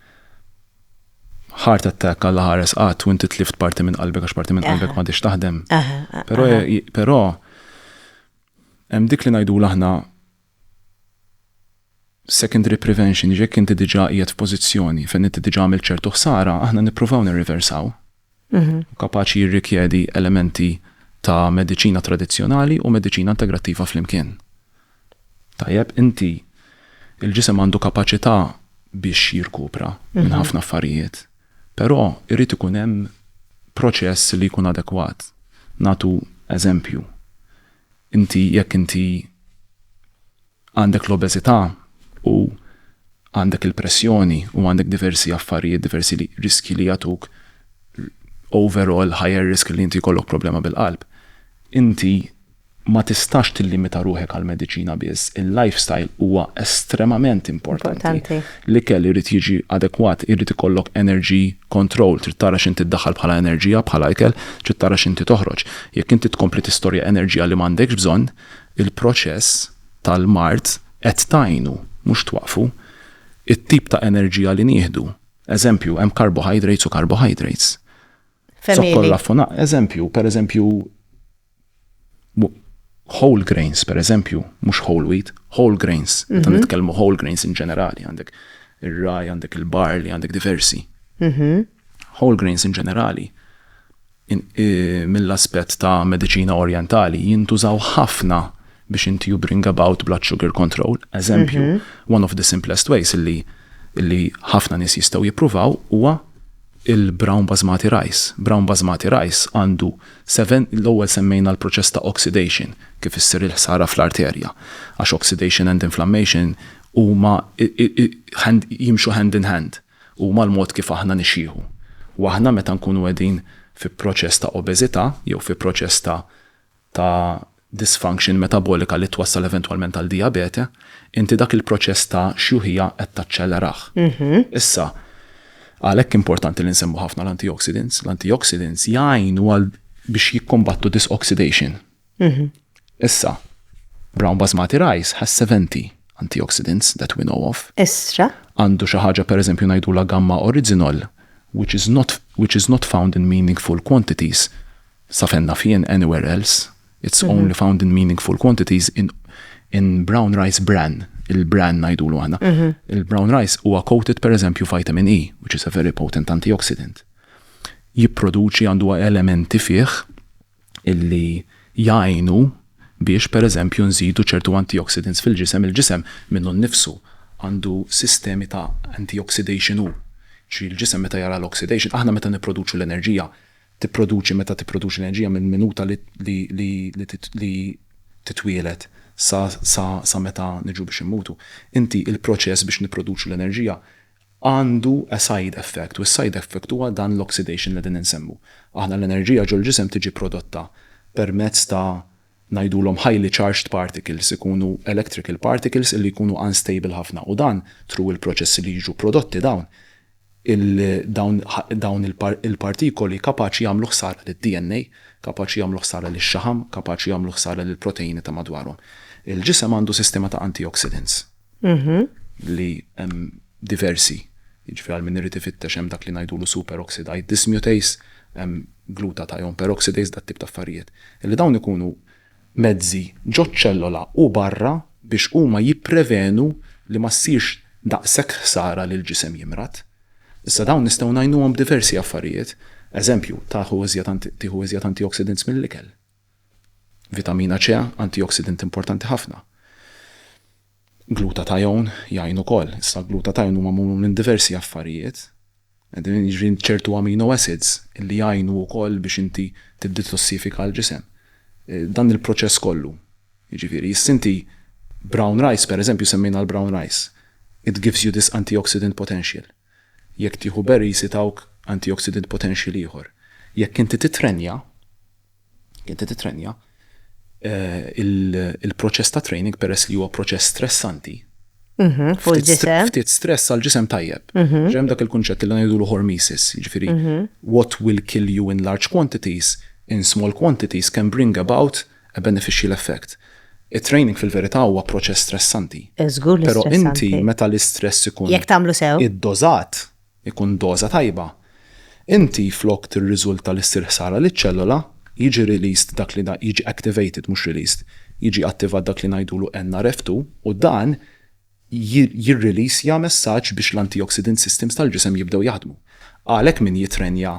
heart attack Alla ħares qatt u inti tlift parti minn qalbek għax parti minn qalbek m'għadhiex taħdem. Però hemm dik li ngħidulu aħna Secondary prevention, jiġifieri jekk inti diġà qiegħed f'pożizzjoni fejn inti diġà għamilt ċertu ħsara, aħna nippruvaw nirriversaw. Hu kapaċi jirrikjedi elementi ta' mediċina tradizzjonali u mediċina integrattiva flimkien. Tajjeb, inti, il-ġisem għandu kapaċità biex jirkupra minn ħafna affarijiet, però jrid ikun hemm proċess li jkun adekwat. Nagħtu eżempju, Inti jekk inti għandek l-obeżità u għandek il-pressjoni u għandek diversi affarijiet, diversi li riskji li jagħtuk overall higher risk li inti jkollok problema bil-qalb, inti ma tistax tillimita ruħek għall-mediċina biss, il-lifestyle huwa estremament importanti. L-ikel irid jiġi adekwat, irid ikollok energy control, trid tara x'inti ddaħħal bħala enerġija, bħala ikel, trid tara x'inti toħroġ. Jekk inti tkompli tistorja enerġija li m'għandekx bżonn, il-proċess tal-mard qed tgħinu, mhux twaqqfu. It-tip ta' enerġija li nieħdu, eżempju, hemm carbohydrates u carbohydrates. Fehmieli. Zokkor raffunat, eżempju, pereżempju, whole grains per eżempju, mhux whole wheat, whole grains, meta mhm. nitkellmu whole grains in ġenerali, għandek ir-raj, għandek il-barli, għandek diversi. Mhm. Whole grains in ġenerali, mill-aspett ta' medicina orientali, jintużaw ħafna biex inti you bring about blood sugar control, eżempju, one of the simplest ways illi illi ħafna nies jistgħu jippruvaw huwa il-brown basmati rice. Brown basmati rice għandu seven, l-ewwel semmejna l-proċess ta' oxidation kif issir il-ħsara fl-arterja. Għax oxidation and inflammation huma jimxu hand in hand, huma l-mod kif aħna nixjieħu. U aħna meta nkunu qegħdin fi proċess ta' obeżità jew fi proċess ta' ta' dysfunction metabolika li twassal eventwalment għal dijabete, inti dak il-proċess ta' xjuħija qed taċċelerah. Issa, għalhekk importanti li nsemmu ħafna l-antioxidants. L-antioxidants jgħinu għal biex jikkombattu disoxidation. Issa, brown basmati rice has 70 antioxidants that we know of. Estra. Għandu xi ħaġa pereżempju ngħidulha gamma original which is not which is not found in meaningful quantities sa fejn naf jien, anywhere else, it's only found in meaningful quantities in in brown rice bran, il-bran ngħidulu aħna. Il-brown rice huwa coated pereżempju vitamin E, which is a very potent antioxidant. Jipproduċi għandu elementi fih illi jgħinu biex pereżempju nżidu ċertu antioxidants fil-ġisem, il-ġisem minnu nnifsu għandu sistemi ta' antioxidation hu. Ġifieri l-ġisem meta jara l-oxidation, aħna meta nipproduċu l-enerġija, tipproduċi meta tipproduċi l-enerġija mill-minuta li titwieled sa meta niġu biex immutu, inti il-proċess biex nipproduċu l-enerġija għandu a side effect u s-side effect huwa dan l-oxidation li qegħdin insemmu. Aħna l-enerġija ġol-ġisem tiġi prodotta permezz ta' ngħidulhom highly charged particles, ikunu electrical particles illi jkunu unstable ħafna u dan through il-proċessi li jiġu prodotti dawn il dawn dawn il-partikoli kapaċi jagħmlu ħsara lid-DNA, kapaċi jagħmlu ħsara lix-xaħam, kapaċi jagħmlu ħsara lill-proteini ta' madwarhom. Il-ġisem għandu sistema ta' antioxidants. Mhm. Li hemm diversi, jiġifieri għal min irid ifittex hemm dak li ngħidulu superoxidized dismutase, hemm glutathione peroxidase, dat tip ta' affarijiet. Illi dawn ikunu mezzi ġoċ-ċellola u barra biex huma jipprevenu li ma ssirx daqshekk ħsara li l-ġisem jimrad. Issa dawn nistgħu ngħinuhom b'diversi affarijiet. Eżempju, taħu iżjed tieħu iżjed antioxidants mill-ikel. Vitamina C, antioxidant importanti ħafna. Glutathione jgħin ukoll. Issa glutathione huma magħmul minn diversi affarijiet. Qegħdin jiġri ċertu amino acids li jgħinu wkoll biex inti tiddetossifika l-ġisem. Eh, dan il-proċess kollu. Jiġifieri, sinti brown rice pereżempju semmejna l-brown rice. It gives you this antioxidant potential. Jekk tieħu berries itawk antioxidant potential ieħor. Jekk inti tittrenja, jekk inti tittrenja, il-proċess ta' training peress li huwa proċess stressanti, Mhm, fuq il-ġisem. Ftit stress għal ġisem tajjeb. Mhm. Ġem dak il-kunċett li ngħidu l-hormesis, ġifieri mhm. what will kill you in large quantities in small quantities can bring about a beneficial effect. It-training fil-verità huwa proċess stressanti. Żgur li stressanti. Però inti meta l-istress ikun. Jekk tagħmlu sew. Iddosat, ikun doża tajba, inti flok tirriżulta li ssir ħsara liċ-ċellola, jiġi released dak li jiġi activated mhux released, jiġi attivat dak li ngħidulu NRF2 u dan jirriliżja messaġġ biex l-antioxidant systems tal-ġisem jibdew jaħdmu. Għalhekk min jittrenja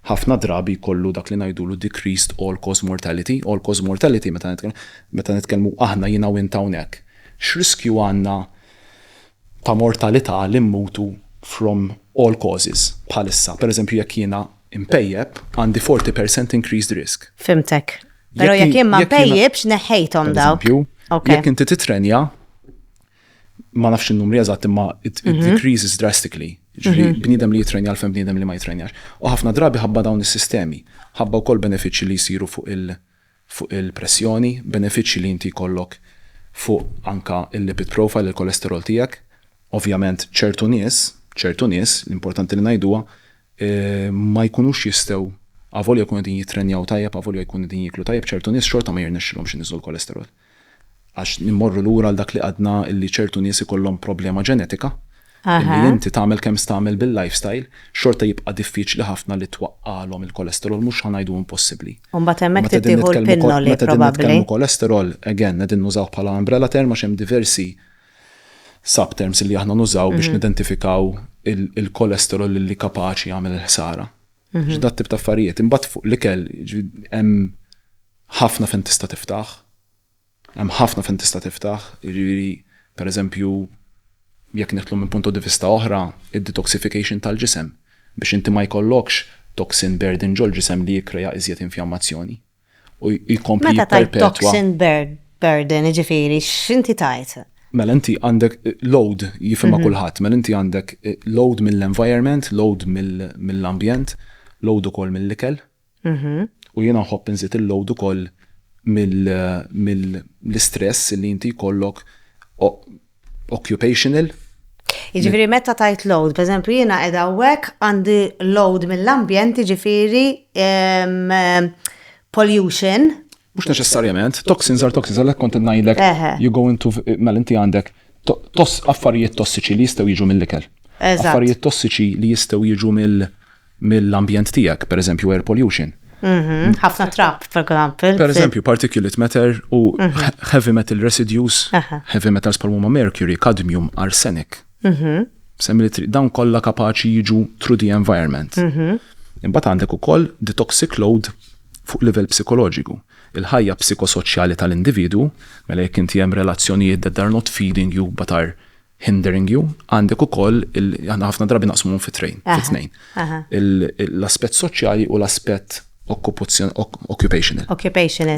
ħafna drabi jkollu dak li ngħidulu decreased all-cause mortality, all-cause mortality meta meta nitkellmu aħna jiena u int hawnhekk, x'riskju għandna ta' mortalità li mmutu from all causes bħalissa? Pereżempju jekk jiena mpejjep għandi 40% increased risk. Fhimtek. Pero jekk jien ma pejjibx neħħejthom daw. Jekk inti titrenja, ma nafx il-numri eżatt imma it mhm. decreases drastically. Ġifri, mhm. bnidem li jitrenja l-fem bnidem li ma jitrenjax. U ħafna drabi ħabba dawn is-sistemi, ħabba wkoll benefiċċji li jsiru fuq il- fuq il-pressjoni, benefiċċji li inti kollok fuq anka il-lipid profile, il-kolesterol tiegħek. Ovvjament ċertu nies, ċertu nies, l-importanti li ngħiduha, ma jkunux jistgħu, avolja jkunu qegħdin jittrenjaw tajjeb, avolja jkunu qegħdin jieklu tajjeb, ċertu nies xorta ma jirnexxilhomx iniżżu l-kolesterol. Għax immorru lura għal dak li għadna li ċertu nies ikollhom problema ġenetika li inti tagħmel kemm stagħmel bil-lifestyle, xorta jibqa' diffiċli ħafna li twaqqagħlhom il-kolesterol, mhux ħa ngħidu impossibbli. U mbagħad hemmhekk trid tieħu l-pinnoli probabbli. Meta qegħdin nitkellmu kolesterol, again, qegħdin nużawh bħala umbrella term għax hemm diversi subterms li aħna nużaw biex mhm. nidentifikaw il-kolesterol il li kapaċi jagħmel il-ħsara. Mhm. Ġda tip ta' affarijiet, imbagħad fuq l-ikel hemm ħafna fejn tista' tiftaħ. Hemm ħafna fejn tista' tiftaħ, jiġifieri pereżempju jekk neħtlu minn punto di vista oħra, id-detoxification tal-ġisem biex inti ma jkollokx toxin burden ġol ġisem li jikkreja iżjed infjammazzjoni. u jkompli Meta tajt jipperpetwa. toxin bur- burden, jiġifieri x'inti tajt? Mela inti għandek eh, load jifhimha kulħadd, mela inti għandek eh, load mill-environment, load mill- mill-ambjent, load ukoll mill-ikel. U jiena nħobb inżid il-load ukoll mill- mill- l-istress li inti jkollok o- occupational. Jiġifieri meta tajt load, pereżempju jiena qiegħda hawnhekk għandi load mill-ambjent jiġifieri pollution. Mhux neċessarjament, toxins are toxins, għalhekk kont ngħidlek you go into mela inti għandek affarijiet tossiċi li jistgħu jiġu mill-ikel. Affarijiet tossiċi li jistgħu jiġu mill mill-ambjent tiegħek, pereżempju air pollution. Mhm, ħafna trap, for example. Pereżempju, particulate matter u mhm. heavy metal residues, heavy metals bħal huma mercury, cadmium, arsenic. Mhm. Semmi li dawn kollha kapaċi jiġu through the environment. Imbagħad għandek ukoll the toxic load fuq livell psikoloġiku. Il-ħajja psikosoċjali tal-individu, mela jekk inti hemm relazzjonijiet that are not feeding you but are hindering you, għandek ukoll aħna ħafna drabi naqsmuhom fi train, fi tnejn. L-aspett soċjali u l-aspett occupational. Occupational.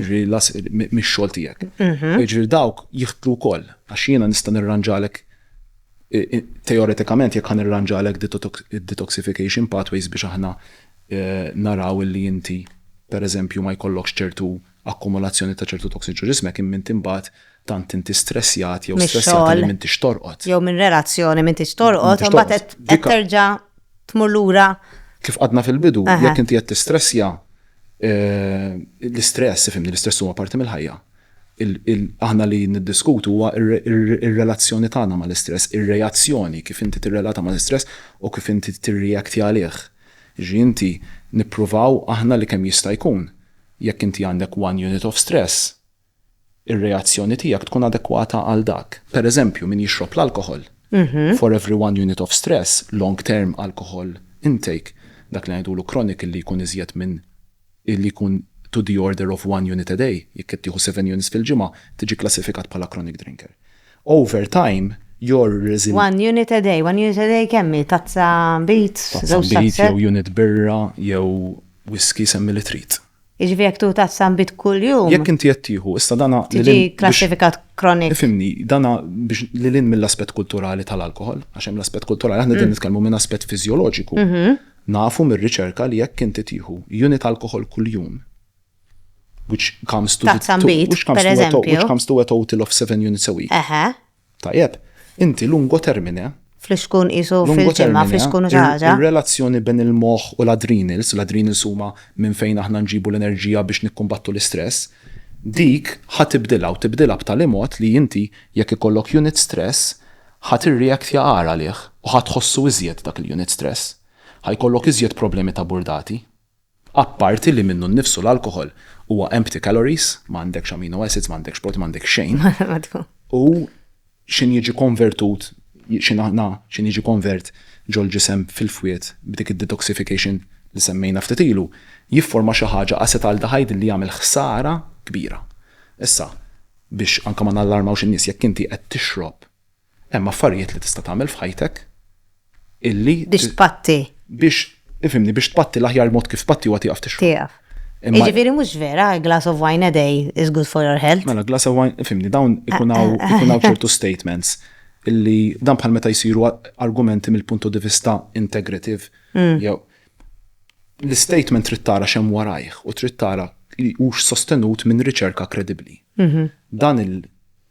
Mix-xogħol tiegħek. Mhm. Ġifieri dawk jiħtlu wkoll għax jiena nista' nirranġalek teoretikament jekk ħan irranġalek detoxification pathways biex aħna e, naraw li inti pereżempju ma jkollokx ċertu akkumulazzjoni ta' ċertu toxins ġo ġismek imma int imbagħad tant inti stressjat jew stressjata li m'intix torqod. Jew minn relazzjoni m'intix torqod u mbagħad qed terġa' tmur lura. Kif qadna fil-bidu, jekk inti qed tistressja eh, l-istress, ifimni, l-istress huwa parti mill-ħajja. Aħna li niddiskutu huwa ir-relazzjoni tagħna mal-istress, ir-reazzjoni kif inti tirrelata mal-istress u kif inti tirreakti għalih. Ġi inti nippruvaw aħna li kemm jista' jkun Jekk inti għandek one unit of stress, ir-reazzjoni tiegħek tkun adekwata għal dak. Per eżempju, min jixrob l-alkoħol, for every one unit of stress, long term alcohol intake, dak li ngħidulu chronic li jkun iżjed minn, li jkun to the order of one unit a day, jekk qed tieħu seven units fil-ġimgħa, tiġi kklassifikat bħala chronic drinker. Over time, your resilience. One unit a day, one unit a day kemm hi? Tazza beets, żewġ tazzett? Tazza beets jew unit birra jew Whiskey semmi li trid. Jiġifieri jekk tieħu tazza nbid kuljum. Jekk inti qed tieħu, issa dan lil hinn. Tiġi kklassifikat chronic. Ifhimni, dan biex lil hinn mill-aspett kulturali tal-alkoħol, għax hemm l-aspett kulturali, aħna qegħdin nitkellmu minn aspett fiżjoloġiku. Nafu mir-riċerka li jekk inti tieħu unit alkoħol kuljum, which comes to. Tazza nbid, pereżempju. Which comes to a total of seven units a week. Eħe. Tajjeb, inti lungo termine. Flus tkun qisu fil-ġimgħa, flus tkun xi ħaġa. Ir-relazzjoni bejn il-moħħ u l-adrenals, l-adrenals huma minn fejn aħna nġibu l-enerġija biex nikkumbattu l-istress, dik ħa tibdilha u tibdilha b'tali mod li inti jekk ikollok unit stress ħa tirreactja agħar għalih u ħa tħossu iżjed dak il-unit stress. Ħa jkollok iżjed problemi ta' burdati. Apparti li minnu nnifsu l-alkoħol huwa empty calories, ma għandekx amino acids, ma għandekx protein, ma għandekx xejn. U x'inhu jiġi konvertut, x'inhu aħna, x'inhu jiġi konvert ġol-ġisem fil-fwied b'dik id-detoxification li semmejna ftit ilu, jifforma xi ħaġa acetaldehyde li jagħmel ħsara kbira. Issa, biex anke ma nallarmawx in-nies, jekk inti qed tixrob Hemm affarijiet li tista' tagħmel f'ħajtek illi Biex tpatti. Biex, ifhimni, biex tpatti l-aħjar mod kif tpatti huwa tieqaf tixrob. Tieqaf. Jiġifieri mhux vera, a glass of wine a day is good for your health. Mela glass of wine, ifhimni, dawn ikun hawn ikun hawn ċertu statements illi dan bħal meta jsiru argumenti mill-punto di vista integrative jew l-istatement trid tara x'hemm warajh u trid tara hux sostenut minn riċerka kredibbli. Dan il-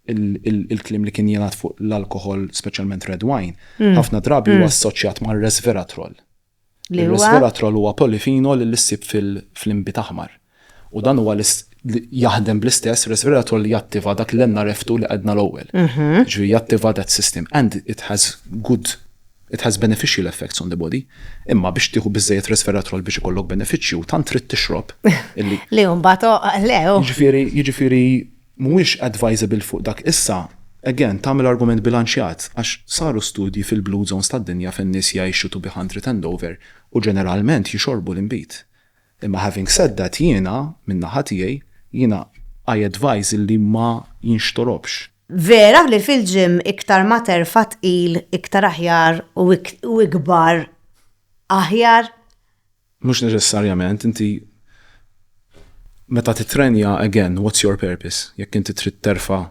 Il-kliem li kien jingħad fuq l-alkoħol, speċjalment red wine, ħafna drabi huwa assoċjat ma' resveratrol. Ir-resveratrol huwa polifinol li ssib fl-inbid aħmar. U dan huwa jaħdem bl-istess resveratrol li jattiva dak l-NRF2 li qedna l-ewwel. Ġifieri jattiva that system and it has good it has beneficial effects on the body. Imma biex tieħu biżejjed resveratrol biex ikollok benefiċċju, tant trid tixrob. Li mbagħad le. Jiġifieri Mhuwiex advisable fuq dak issa, again, tagħmel argument bilanċjat għax saru studji fil-blue zones tad-dinja fejn nies jgħixu to be hundred and over u ġeneralment jixorbu l-inbid. Imma having said that jiena, minn naħa tiegħi, jiena I advise illi ma jinxtorobx. Vera li fil-gym iktar ma terfa' tqil iktar aħjar u ikbar aħjar. Mhux neċessarjament, inti meta tittrenja again what's your purpose? Jekk inti trid terfa'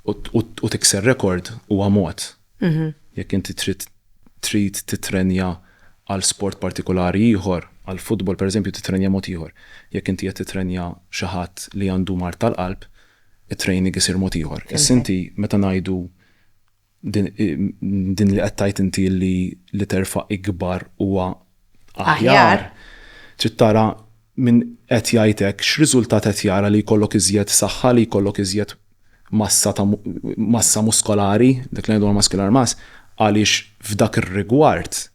u tikser rekord huwa mod. Jekk inti trid trid tittrenja għal sport partikolari ieħor, għal futbol pereżempju tittrenja mod ieħor. Jekk inti qed tittrenja xi ħadd li għandu mard tal-qalb, it-training isir mod ieħor. Issa inti meta ngħidu Din li qed tgħid inti li li terfa' ikbar huwa aħjar, trid tara min qed jgħid hekk x'riżultat qed jara li jkollok iżjed saħħa, li jkollok iżjed massa ta' massa muskolari, dak li ngħidu muscular mass, għaliex f'dak ir-rigward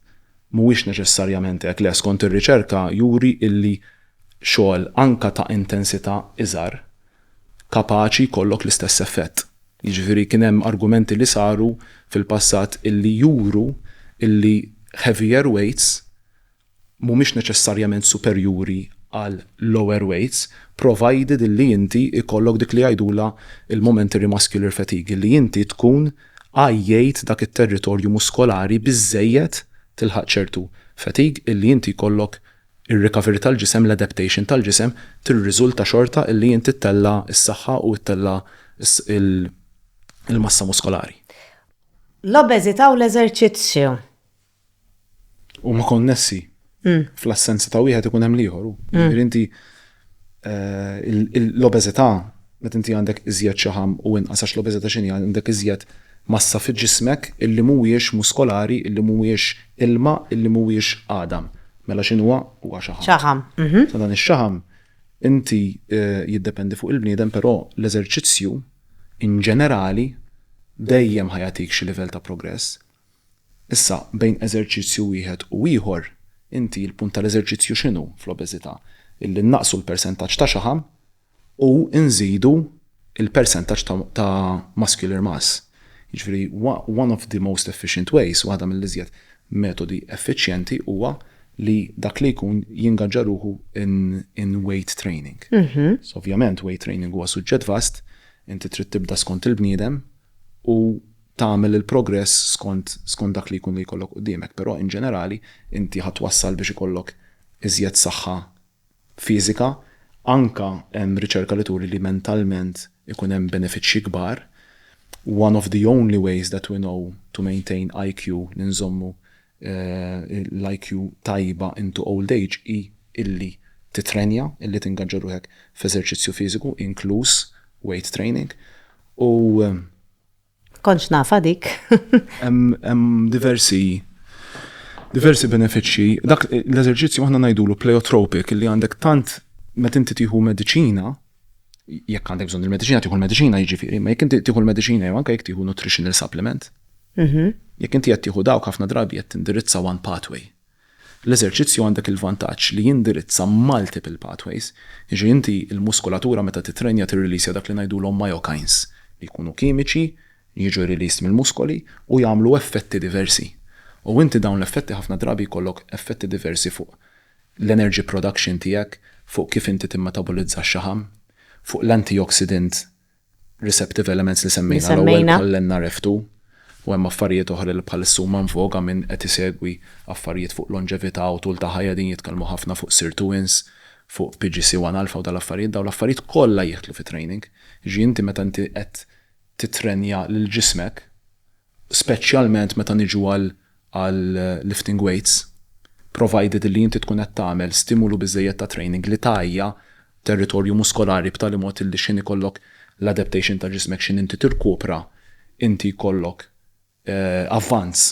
mhuwiex neċessarjament hekk, le skont ir-riċerka juri illi xogħol anke ta' intensità iżgħar kapaċi jkollok l-istess effett. Jiġifieri kien hemm argumenti li saru fil-passat illi juru illi heavier weights mhumiex neċessarjament superjuri għal lower weights provided illi inti jkollok dik li jgħidulha l-momentary muscular fatigue, illi inti tkun għajjejt dak it-territorju muskolari biżżejjed tilħaq ċertu fatigue illi inti jkollok Ir-recovery tal-ġisem, l-adaptation tal-ġisem tirriżulta xorta illi inti ttella' s-saħħa u ttella' l-massa muskolari. L-obeżità u l-eżerċizzju. Huma konnessi. Fl-assenza ta' wieħed ikun hemm l-ieħor. Jiġifieri inti l-obeżità meta inti għandek iżjed xaħam u inqas għax l-obeżità x'inhi għandek iżjed massa fi ġismek illi mhuwiex muskolari, illi mhuwiex ilma, illi mhuwiex għadam. Mela x'inhuwa? Huwa xaħam. Xaħam. Sa dan ix-xaħam inti jiddependi fuq il-bniedem però l-eżerċizzju in ġenerali dejjem ħa jagħtik xi livell ta' progress. Issa, bejn eżerċizzju wieħed u ieħor, inti l-punt tal-eżerċizzju x'inhu fl-obeżità? Illi nnaqqsu l-persentaġġ ta' xaħam u nżidu l-persentaġġ ta' ta' muscular mass. Jiġifieri one of the most efficient ways, waħda mill-iżjed metodi effiċjenti huwa li dak li jkun jingaġġa ruħu in in weight training. So ovvjament weight training huwa suġġett vast, inti trid tibda skont il-bniedem u tagħmel il-progress skont skont dak li jkun li jkollok quddiemek, però in ġenerali inti ħa twassal biex ikollok iżjed saħħa fiżika, anke hemm riċerka li turi li mentalment ikun hemm benefiċċji kbar, one of the only ways that we know to maintain IQ li nżommu l-IQ tajba into old age hi illi titrenja, illi tingaġġa ruħek f'eżerċizzju fiżiku inkluż weight training u Kontx nafa dik. Hemm diversi diversi benefiċċji. Dak l-eżerċizzju aħna ngħidulu pleiotropic li għandek tant meta inti tieħu mediċina jekk għandek bżonn il-mediċina tieħu l-mediċina jiġifieri, ma jekk inti tieħu l-mediċina jew anke jekk tieħu nutritional supplement. Mhm. Jekk inti qed tieħu dawk ħafna drabi qed tindirizza one pathway. L-eżerċizzju għandek il-vantaġġ li jindirizza multiple pathways, jiġri inti l-muskulatura meta titrenja tirrilisja dak li ngħidulhom myokines li jkunu kimiċi li jiġu released mill-muskoli u jagħmlu effetti diversi. U inti dawn l-effetti ħafna drabi jkollok effetti diversi fuq l-energy production tiegħek, fuq kif inti timetabolizza x-xaħam, fuq l-antioxidant receptive elements li semmejna l-ewwel bħall-NRF2 u hemm affarijiet oħra li bħalissa huma in voga min qed isegwi affarijiet fuq longevità u tul ta' ħajja qegħdin jitkellmu ħafna fuq sirtuins, fuq PGC1 alpha u dal-affarijiet, dawn l-affarijiet kollha jidħlu fit-training. Jiġifieri inti meta inti qed tittrenja lil ġismek, speċjalment meta niġu għal għal lifting weights, provided li inti tkun qed tagħmel stimulu biżżejjed ta' training li tgħajja territorju muskolari b'tali mod illi x'ħin ikollok l-adaptation ta' ġismek x'ħin inti tirkupra inti jkollok avvanz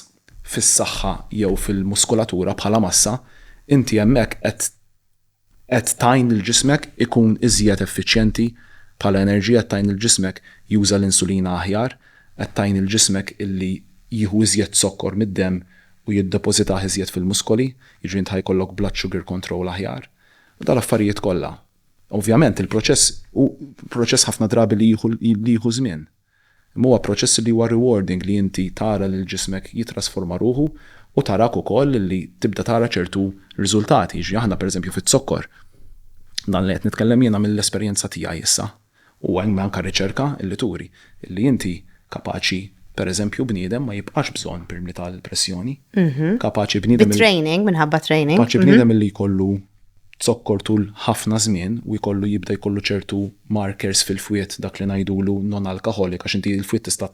fis-saħħa jew fil-muskulatura bħala massa, inti hemmhekk qed Qed tgħin lil ġismek ikun iżjed effiċjenti bħala enerġija, qed tgħin lil ġismek juża l-insulina aħjar, qed tgħin lil ġismek illi jieħu iżjed zokkor mid-demm u jiddepożitah iżjed fil-muskoli, jiġri int ħa jkollok blood sugar control aħjar. U dal-affarijiet kollha. Ovvjament il-proċess hu proċess ħafna drabi li jieħu li jieħu żmien. Imma huwa proċess li huwa rewarding li inti tara lil ġismek jittrasforma ruħu u tarak ukoll li tibda tara ċertu riżultati. Jiġifieri aħna pereżempju fiz-zokkor, dan li qed nitkellem jiena mill-esperjenza tiegħi issa, u hemm anke riċerka li turi li inti kapaċi pereżempju bniedem ma jibqax bżonn permli tal-pressjoni, kapaċi bniedem. Bit-training, minħabba training. Kapaċi bniedem li jkollu zokkor tul ħafna żmien u jkollu jibda jkollu ċertu markers fil-fwied dak li ngħidulu non-alcoholic għax inti l-fwied tista'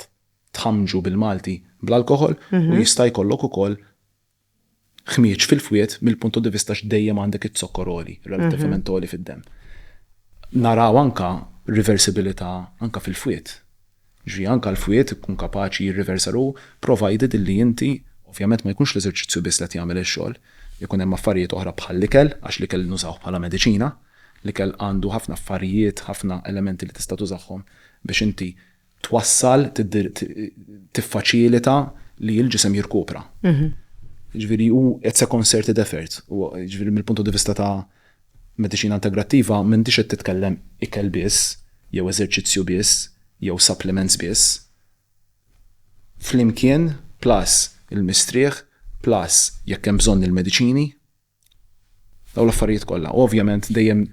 tħammġu bil-Malti bl-alkoħol u jista' jkollok ukoll ħmieġ fil-fwied mill-punto di vista għax dejjem għandek iz-zokkor għoli, relattivament għoli fid-demm. Naraw anke riversibilità anke fil-fwied. Jiġifieri anke l-fwied ikun kapaċi jirriversa ruħu, provided illi inti, ovvjament ma jkunx l-eżerċizzju biss li qed jagħmel ix-xogħol, ikun hemm affarijiet oħra bħall-ikel, għax l-ikel nużawh bħala mediċina, l-ikel għandu ħafna affarijiet, ħafna elementi li tista' tużahom biex inti twassal, tiffaċilita li l-ġisem jirkupra. Jiġifieri hu it's a concerted effort, jiġifieri mill-punto di vista ta' Mediċina integrattiva m'għandhiex qed titkellem ikel biss jew eżerċizzju biss jew supplements biss. Flimkien plus il-mistrieħ plus jekk hemm bżonn il-mediċini. Dawn l-affarijiet kollha. Ovvjament dejjem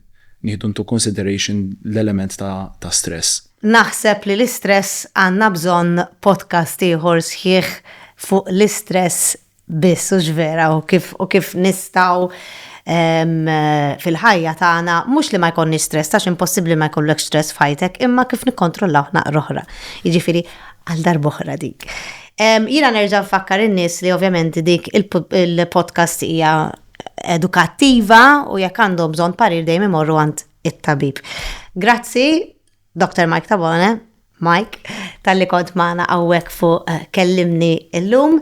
nieħdu into consideration l-element ta' ta' stress. Naħseb li l-istress għandna bżonn podcast ieħor sħiħ fuq l-istress biss hux vera u kif u kif nistgħu fil-ħajja tagħna mhux li ma jkollniex stress għax impossibbli ma jkollok stress f'ħajtek imma kif nikkontrollaw naqra oħra. Jiġifieri għal darboħra dik. Jiena nerġa' nfakkar in-nies li ovvjament dik il-podcast hija edukattiva u jekk għandhom bżonn parir dejjem imorru għand it-tabib. Grazzi Doktor Mike Tabone, Mike, tal-li kont maħna għawek fuq eh, kellimni illum.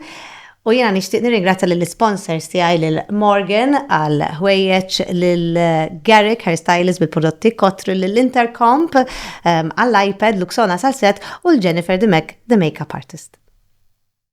U jena nishtiq nirringrazzja l-sponsors tiegħi lil Morgan għal ħwejjeġ lil eh, Garrick Hairstylist bil-prodotti kotru lil Intercomp eh, għall-iPad Luxona Salset u l-Jennifer Demek, the makeup artist.